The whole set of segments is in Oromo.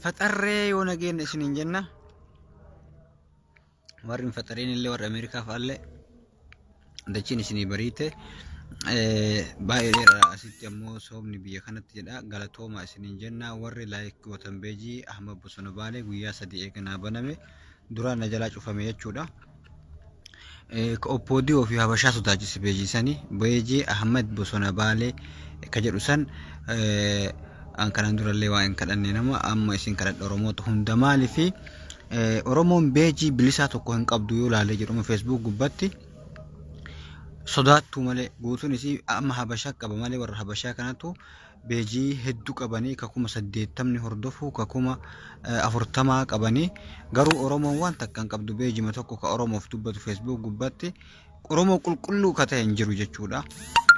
Faxarree yoo nageenya isiniin jenna. Warri hin faxareen illee warri Ameerikaa fa'aallee dachiin isinii bariite. Baay'ee dheeraa asitti ammoo soomni biyya kanatti jedha. Galatoomaa isiniin jenna. Warri laayik gootan beejii Ahmad Bosona Baalee guyyaa sadii eeganaa baname. duraa na jalaa cufame jechuudha. Ka Oppoodiyoo fi Habashaa sodaachise peejii sani Beejee Ahmed Bosona Baalee ka jedhu san an kanaan durallee waa hin kadhanne nama amma isin kadhadha Oromoota hunda maali fi Oromoon beejii bilisaa tokko hin qabdu yoo laalee jedhuma Facebook gubbatti sodaattuu malee guutuun isii amma Habashaa qaba malee warra Habashaa kanatu beejii heddu qabanii ka kuma saddeettamni hordofu ka kuma eh, afurtamaa qabanii garuu oromoon waan takka hin qabdu beejima tokko ka oromoof dubbatu feesbuuk gubbatti oromoo qulqulluu ka ta'e hin jiru jechuudha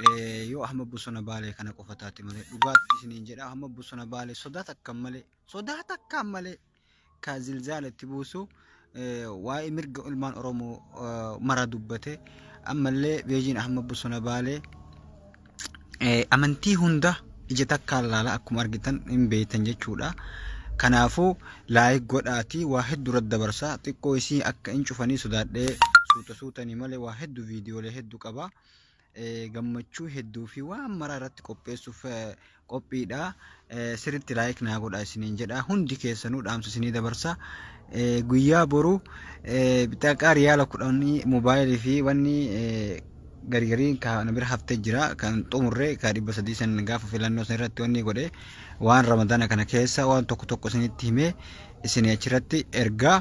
Eh, yoo ahmad bosona baalee kana qofa taate malee dhugaatti isiniin jedha ahmad bosona baalee sodaa takkaan malee sodaa takkaan malee ka zilzaala itti buusu waa'ee mirga ilmaan Oromoo mara dubbate ammallee Beejiin Ahmad Bosona Baalee amantii hunda ija takkaan laala akkuma argitan hin beektan jechuudha. Kanaafuu laayik godhaatii waa hedduu irratti dabarsa xiqqoo isii akka hin cufanii sodaadhee suuta suutanii malee waa hedduu viidiyoolee hedduu qaba. gammachuu hedduu fi waan maraa irratti qopheessuuf qophiidha. Sirriitti laayik naa godha isiniin jedha. Hundi keessanuu dhaamsa isinii dabarsa. Guyyaa boru bixaqaa riyaala kudhanii moobaayilii fi wanni gargarii kan bira haftee jira kan xumurre kan dhibba sadii san gaafa filannoo san irratti wanni godhe waan ramadaana kana keessa waan tokko tokko isinitti himee isin achirratti ergaa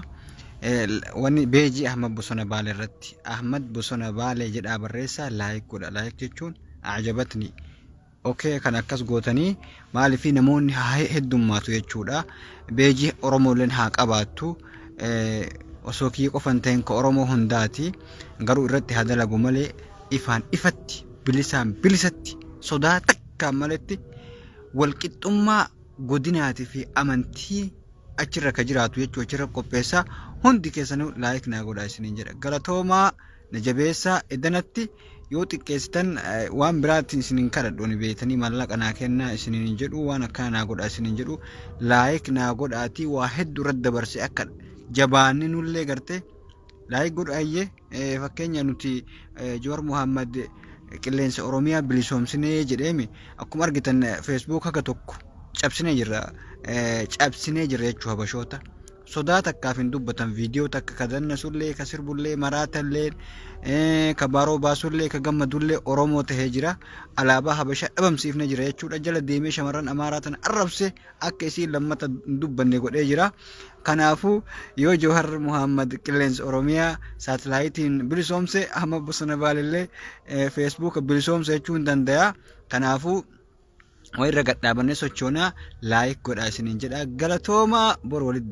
wanni beejii Ahmad Bosona Baale irratti Ahmad Bosona Baale jedhaa barreessaa laayik godha laayik jechuun ajabatni okee kan akkas gootanii maaliif namoonni haa heddummaatu jechuudha beejii Oromoolleen haa qabaattu osoo kiyya qofan ta'in ka Oromoo hundaati garuu irratti haa dalagu malee ifaan ifatti bilisaan bilisatti sodaa takkaan maletti walqixxummaa godinaati fi amantii achirra ka jiraatu jechuu achirra qopheessa hundi keessanuu laayik naa godhaa isiniin jedha galatoomaa na jabeessaa edanatti yoo xiqqeessitan eh, waan biraatiin isiniin kadhadhu ani beektanii maallaqa naa kennaa isiniin hin jedhu waan akkana naa godhaa isiniin jedhu laayik naa godhaatii waa hedduu irratti dabarse akka jabaanne nullee gartee Laayik godhu ayyee fakkeenya nuti Joor Muhammad qilleensa Oromiyaa bilisoomsinee jedheemi akkuma argitan feesbuuk haga tokko cabsinee jirra cabsinee jirra jechuu habashoota. Sodaa takkaaf hin dubbatan viidiyoo takka ka dannasullee ka sirbullee maraatallee ka baaroo baasullee ka gammadullee Oromoo tahee jira. Alaabaa habashaa dhabamsiifnee jira jechuudha jala deemee shamarran amaaraa tana arrabsee akka isiin lammata hin dubbanne godhee jira. Kanaafuu yoo Jawhar Muhammad qilleensa Oromiyaa saatalaayitiin bilisoomse hamma bosona baalillee feesbuuka bilisoomse jechuu hin danda'a. Kanaafuu walirra gad dhaabannee sochoonaa laayik godhaa isiniin jedha. Galatoomaa bor walitti